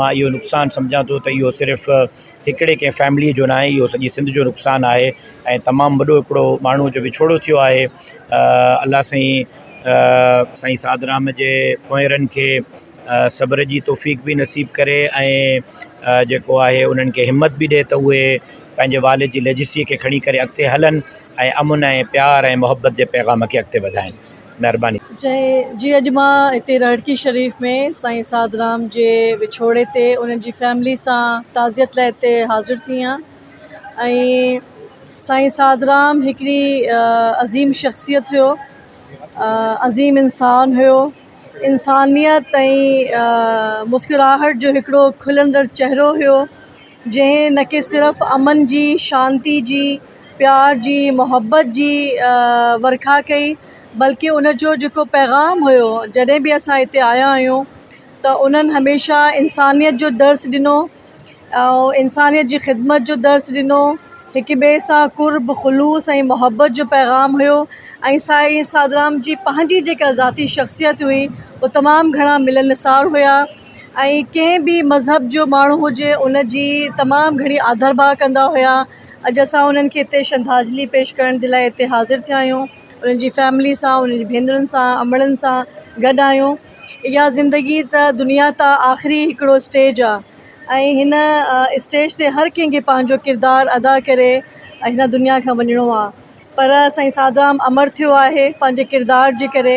مان اهو نقصان سمجهان ٿو ته اهو صرف هڪڙي ڪنهن فيمليء جو ناهي اهو سڄي سنڌ جو نقصان آهي ۽ تمام وڏو هڪڙو ماڻهو جو وڇوڙو ٿيو آهي الله سائين سائين سادرام جي پونئيرن کي صبر جي توفيق به نصيب ڪري ۽ جيڪو آهي انهن کي همت به ڏي ته اهي پنهنجي والد جي ليجسيء کي کڻي ڪري اڳتي هلن ۽ امن ۽ پيار ۽ محبت جي پيغام کي اڳتي وڌائين مهرباني. جي اڄ مان هتي رهڙڪي شريف ۾ سائين سعد رام جي وڇوڙي تي انهن جي فيملي سان تعزيت لاء هتي حاضر ٿي آهيان ۽ سائين سعد رام هڪڙي عظيم شخصيت هيو عظيم انسان هيو انسانيت ۽ مسڪراهٽ جو هڪڙو کلندڙ چهرو هيو جنهن نه ڪي صرف امن جي، شانتي جي، پيار جي، محبت جي ورکا ڪئي بلڪه ان جو جيڪو پيغام هيو جڏهن به اسان هتي آيا آهيون ته انهن هميشه انسانيت جو درس ڏنو ۽ انسانيت جي خدمت جو درس ڏنو هڪ ٻئي سان قرب خلوص ۽ محبت جو پيغام هيو ۽ سائين سادرام جي پنهنجي جيڪا ذاتي شخصيت هئي هو تمام گهڻا ملنسار هيا ۽ ڪنهن به مذهب جو ماڻهو هجي ان جي تمام گهڻي آڌر ڀاء ڪندا هيا اڄ اسان انهن کي هتي شرڌانجلي پيش ڪرڻ جي لاء هتي حاضر ٿيا آهيون انهن جي فيملي سان انهن جي ڀينرن سان امڙن سان گڏ آهيون اها زندگي ته دنيا ته آخري هڪڙو اسٽيج آهي ۽ هن اسٽيج تي هر ڪنهن کي پنهنجو ڪردار ادا ڪري هن دنيا کان وڃڻو آهي پر سائين سادرام امڙ ٿيو آهي پنهنجي ڪردار جي ڪري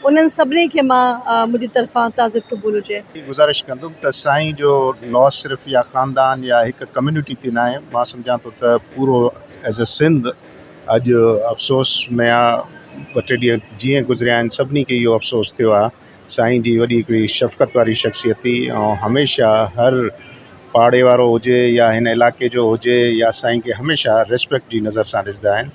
انهن سڀني کي مان منهنجي طرفان تعزيت قبول هجي. گذارش ڪندم ته سائين جو لاس صرف يا خاندان يا هڪ ڪميونٽي تي ناهي مان سمجهان ٿو ته پورو ايز اي سنڌ اڄ افسوس ۾ آ ٻه ٽي ڏينهن جيئن گذريا آهن سڀني کي اهو افسوس ٿيو آ سائين جي وڏي هڪڙي شفقت واري شخصيت هئي ۽ هميشه هر پاڙي وارو هجي يا هن علائقي جو هجي يا سائين کي هميشه ريسپيڪٽ جي نظر سان ڏسندا آهن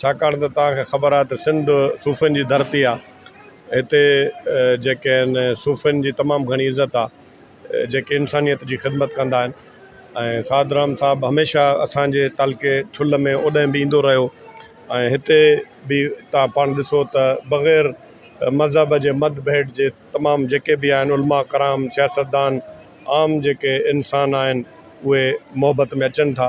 ڇاڪاڻ ته توهان کي خبر آهي ته سنڌ صوفين جي ڌرتي آهي هتي جيڪي آهن صوفين جي تمام گهڻي عزت آهي جيڪي انسانيت جي خدمت ڪندا آهن ۽ سعد رحم صاحب هميشه اسانجي تعلقي ٺل ۾ اوڏانهن به ايندو رهيو ۽ هتي به تها پاڻ ڏسو ته بغير مذهب جي مد ڀيٽ جي تمام جيڪي به آهن علماء ڪرام سياستدان عام جيڪي انسان آهن اهي محبت ۾ اچن ٿا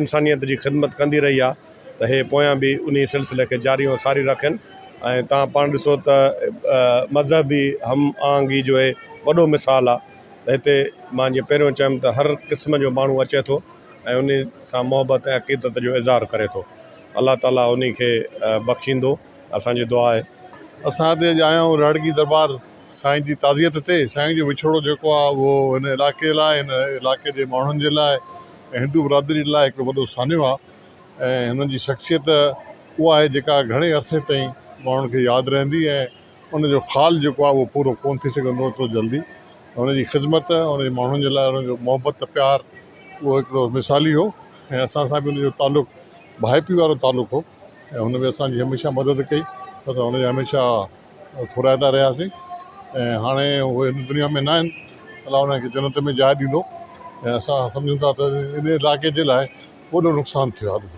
انسانيت جي خدمت ڪندي رهي آهي ته اهي پويان به انهي سلسلي کي جاري ۽ ساري رکن ۽ تان پاڻ ڏسو ته مذهبي هم آهنگي جو اهي وڏو مثال آهي ته هتي مان جيئن پهريون چيم ته هر قسم جو ماڻهو اچي ٿو ۽ انهي سان محبت ۽ عقيدت جو اظهار ڪري ٿو الله تعاليٰ انهي کي بخشيندو اسان جي دعا آهي اسان هتي جا آهيون روهڙڪي درٻار سائين جي تعزيت تي سائين جو وڇوڙو جيڪو آ اهو هن علائقي لاء هن علائقي جي ماڻهن جي لاء ۽ هندو برادري لاء هڪڙو وڏو سانحو آ ۽ هنن جي شخصيت اها آهي جيڪا گهڻي عرصي تائين ماڻهن کي ياد رهندي ۽ ان جو خال جيڪو آ اهو پورو ڪون ٿي سگهندو ايترو جلدي هن جي خذمت هن جي ماڻهن جي لاء هن جو محبت پيار اهو هڪڙو مثالي هو ۽ اسان سان به ان جو تعلق ڀائپي وارو تعلق هو ۽ هن به اسان جي هميشه مدد ڪئي اسان هن جا هميشه ڦورائيندا رهياسين ۽ هاڻي اهي هن دنيا ۾ ناهن الله انهن کي جنت ۾ جاء ڏيندو ۽ اسان سمجهون ٿا ته ان علائقي جي لاء وڏو نقصان ٿيو آهي